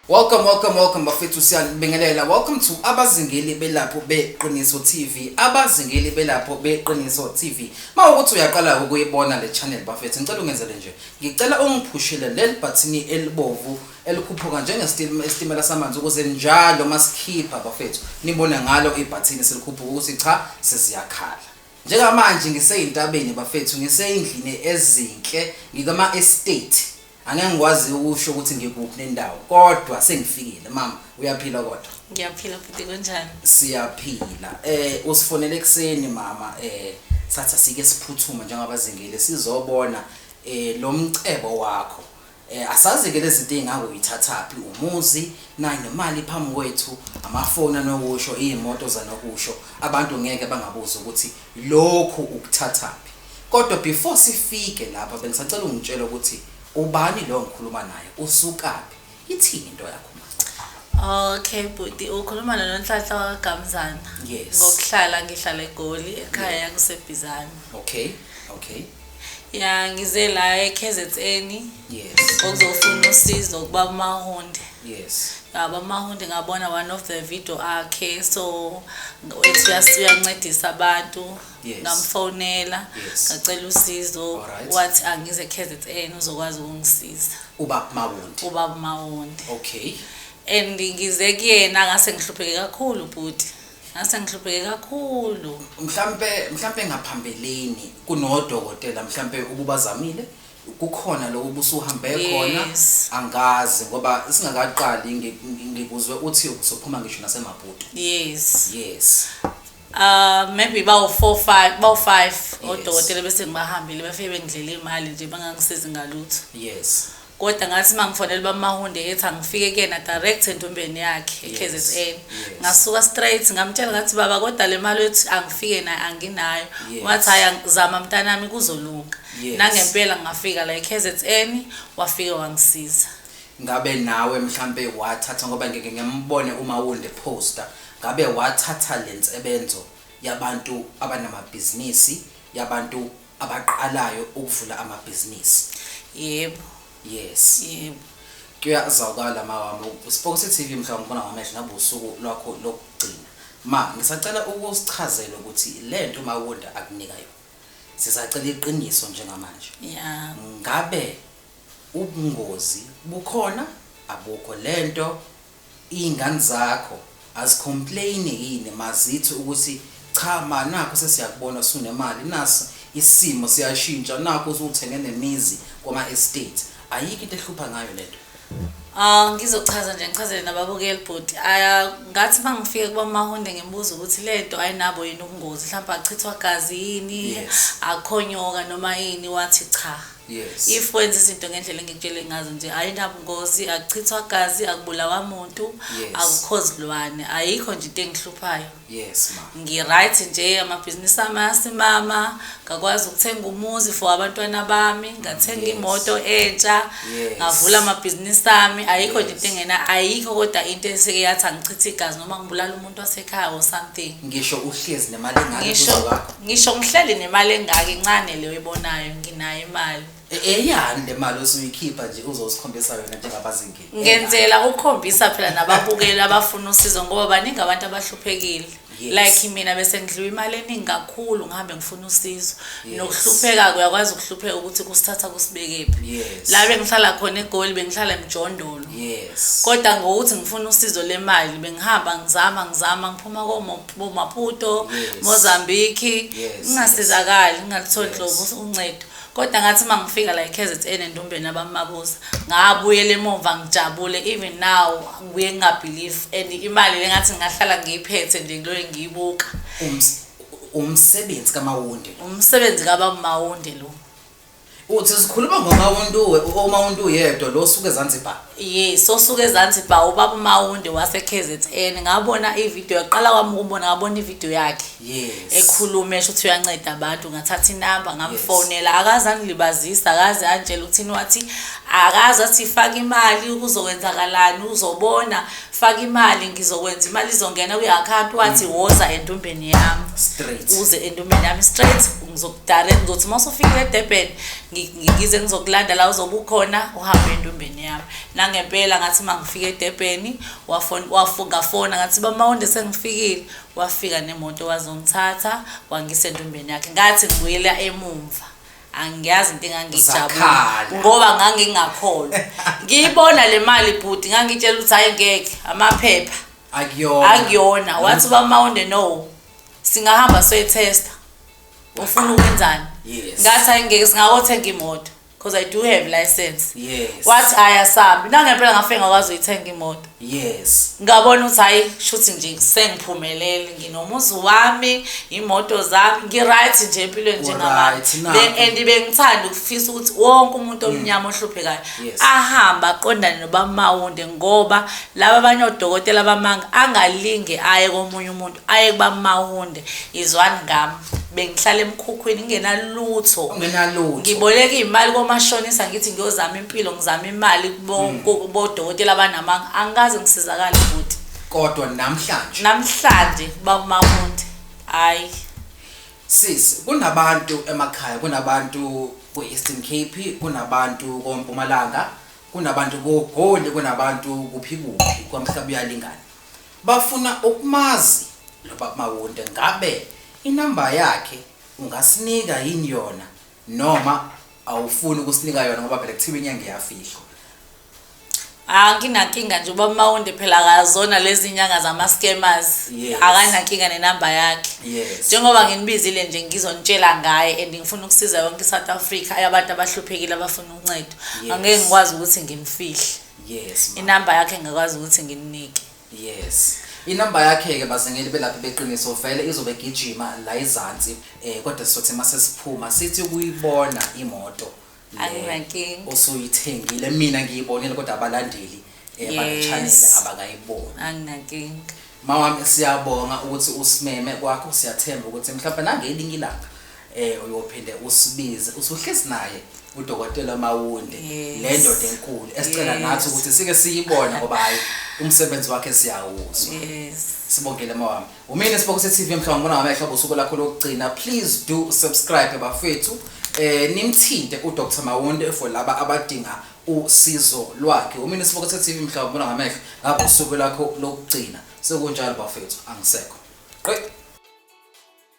Welcome welcome welcome bafethu siyanibingelela welcome to abazingeli belapho beqiniso TV abazingeli belapho beqiniso TV mawukuthi uyaqala ukuyibona le channel bafethu ngicela ungenzele nje ngicela ungiphushele leli button elibovu elikhuphuka njengesitimela samanzi ukuze njalo masikhipha bafethu nibone ngalo ibhathini selikhuphuka ukuthi cha seziyakhala njengamanje ngiseyintabeni bafethu ngiseyindlini ezinhle ngikama estate angeke ngikwazi ukusho ukuthi ngikuphi nendawo kodwa sengifikile mama uyaphila kodwa ngiyaphila futhi kunjani siyaphila eh usifonele ekseni mama eh satha sike siphuthuma njengabazingile sizobona eh lo mcebo wakho Eh asazi ke lezinto ezingaku yithathaphi umuzi nayi nemali phambi kwethu amafoni anokusho izimoto zanokusho abantu ngeke bangabuza ukuthi lokhu ukuthathaphi kodwa before sifike lapha bengisacela ungitshela ukuthi ubani lo ngikhuluma naye usukaphi ithini into yakho Okay bhuti ukhuluma noNhlanhla waKaMzana. Yes. Ngokuhlala ngihlala eGoli ekhaya kusebhizana. Okay. Okay. ya ngize la eKZN yes ngokuzofuna usizo kuba mahonde yes ngaba mahonde ngabona one of the video akhe so ethi uyas- uyancedisa abantu Yes. ngamfonela Yes. ngacela usizo Alright. wathi angize eKZN uzokwazi ukungisiza uba mawundi ubaba mahonde okay and ngize kuyena ngase ngihlupheke kakhulu bhuti Ngase ngihlupheke kakhulu. Mhlampe mhlampe ngaphambeleni kunodokotela mhlampe ububazamile kukhona lokho busuhambe khona Yes. angazi ngoba singakaqali ngi- ngi- ngikuzwe uthi uzophuma ngisho nasemaputo. Yes. Yes. Uh maybe bawu 4 5 bawu 5 Yes. odokotela bese ngibahambile bafike bengidlela imali nje bangangisizi ngalutho. Yes. Koda ngathi mangifonela uBamahunde ethi angifike kuyena direct entombeni yakhe eKZN. Ngasuka straight ngamtshela ngathi baba koda le mali ethi angifike nayo anginayo. Wathi hayi ang- zama mntanami kuzolunga. Yes. Nangempela ngafika la eKZN wafike wangisiza. ngabe nawe mhlampe wathatha ngoba ngeke ngembone uma wunde poster ngabe wathatha lensebenzo yabantu abanamabhizinisi yabantu abaqalayo ukuvula amabhizinisi. Yebo. Yes. Yebo. Kuyazwakala mawami uSiphokosi TV mhla ngibona ngamehlo nabe usuku lwakho lokugcina. Ma ngisacela ukusichazela ukuthi lento mawonda akunika yona. Sisacela iqiniso njengamanje. Yeah. Ngabe ubungozi bukhona abukho lento Iyngane zakho azi complain yini mazithi ukuthi cha ma nakhu sesiyakubona sunemali nasi isimo siyashintsha nakhu usuthenge nemizi kwama estate ayikho into ehlupha ngayo lento. Ah ngizochaza nje ngichazele nababukeli bhuti ah, ngathi mangifike kubamahonde ngibuza ukuthi lento ayinabo yini ubungozi mhlawumbe achithwa gazi yini Yes. akhonyoka noma yini wathi cha. Yes. if wenza izinto ngendlela engikutshele ngazo nje ayinabungozi akuchithwa gazi akubulawa muntu Yes. akukho zilwane ayikho nje into engihluphayo Yes ma. ngi-right nje amabhizinisi ami ayasimama ngakwazi ukuthenga umuzi for abantwana bami ngathenga Yes. imoto entsha Yes. ngavula amabhizinisi ami ayikho nje Yes. into engena ayikho kodwa into eseke yathi angichithe igazi noma ngibulala umuntu umuntu wasekhaya or something ngisho uhlezi nemali engaka ngisho ngisho ngihleli nemali engaka incane leyo ibonayo nginayo imali e, eyani le mali osuyikhipha nje uzosikhombisa yona njengabazingile ngenzela ukukhombisa phela nababukeli abafuna usizo ngoba baningi abantu abahluphekile like mina bese ngidliwa imali eningi kakhulu ngihambe ngifuna usizo nokuhlupheka kuyakwazi ukuhlupheka ukuthi kusithatha kusibekephi la bengihlala khona egoli bengihlala emjondolo yes kodwa ngokuthi ngifuna usizo lemali bengihamba ngizama ngizama ngiphuma komaputo yes. mozambique ngingasizakali yes. ngingalitholi yes. hlobo uncedo kodwa ngathi uma ngifika la i-kzn endumbeni abamabuza ngabuyela emumva ngijabule even now ngibuye ngingabhelieve and imali le ngathi ngingahlala ngiyiphethe nje kuloyo ngiyibuka umsebenzi kamawundi umsebenzi kabamawundi lo Uthi sikhuluma ngoMawuntuwe, uMawuntu yedwa lo osuke eZanzibar. Yes, osuke eZanzibar ubaba uMawunde waseKZN. Ngabona ivideo yaqala kwami ukubona ngabona ivideo yakhe. Yes. Ekhuluma esho ukuthi uyanceda abantu ngathatha inamba ngamfonela akaze angilibazisa akaze angitshela ukuthi wathi akaze athi faka imali ukuzokwenzakalani uzobona faka imali ngizokwenza imali izongena kwi-account wathi woza entombeni yami Straight. uze entombeni yami straight ngizokudala ngizothi uma usufikile edurban ngize ngizokulanda la uzobe ukhona uhambe entombeni yami nangempela ngathi uma ngifike edurban ngafona ngathi bamawonde sengifikile wafika nemoto wazongithatha wangisa entombeni yakhe ngathi ngibuyela emumva angiyazi into engangijabula ngoba ngangingakholwa ngiyibona le mali bhuti ngangitshela ukuthi hayi ngeke amaphepha akuyona wathi bamawonde no singahamba soyithesta ufuna ukwenzani Yes. ngathi hayi ngeke singakothenga imoto because i do have license Yes. wathi hayi asambi nangempela ngafike ngakwazi uyithenga imoto Yes. ngabona ukuthi hayi shuthi nje sengiphumelele nginomuzi wami imoto zami ngi-right nje empilweni Uryt, nakho. njengamanje bengithanda ukufisa ukuthi wonke umuntu omnyama ohluphekayo Mm. Yes. ahambe aqondane nobamawunde ngoba laba abanye odokotela bamanga angalinge aye komunye umuntu aye kubamawunde izwani ngami bengihlala emkhukhwini ngingenalutho nginalutho ngiboleka imali komashonisa ngithi ngiyozama impilo ngizama imali kubodokotela hmm. abanamanga angikaze ngisizakale futhi kodwa namhlanje namhlanje bamawunde hayi sis kunabantu emakhaya kunabantu ku-eastern cape kunabantu kompumalanga kunabantu kogoli kunabantu kuphi kuphi kwamhlaba uyalingana Bafuna ukmazi lobab Mawonde ngabe inumber yakhe ungasinika yin yona noma awufuni ukusinika yona ngoba phela kuthiwa inyanga iyafihlwa. Anginankinga nje ubaba Mawonde phela akazona lezi nyanga zama scammers. Yes. Akanankinga ne number yakhe. Yes. Njengoba nginibizile nje ngizonitshela ngaye and ngifuna ukusiza yonke iSouth Africa ayabantu abahluphekile abafuna uncedo. Yes. Angeke ngikwazi ukuthi ngimfihle. yes ma. inamba yakhe ngikwazi ukuthi ngininike yes inamba yakhe-ke bazingeli belaphi beqiniso vele izobe igijima la izansi um kodwa sizothi uma sesiphuma sithi ukuyibona imoto le Anginankinga. osuyithengile mina ngiyibonile kodwa abalandeli um Yes. banechanele abakayiboni anginankinga mawami siyabonga ukuthi usimeme kwakho siyathemba ukuthi mhlawumbe nangelinye ilanga eh uyophinde usibize usuhlezi naye udokotela Mawunde Yes. le ndoda enkulu esicela Yes. nathi ukuthi sike siyibone ngoba hayi umsebenzi wakhe siyawuzwa yes sibongele mawami umina sibokuse TV mhlawumbe ngibona ngamehlo bosuku lakho lokugcina please do subscribe bafethu eh nimthinte uDr Mawunde for laba abadinga usizo lwakhe umina sibokuse TV mhlawumbe ngibona ngamehlo ngabosuku lakho lokugcina sekunjalo bafethu angisekho qe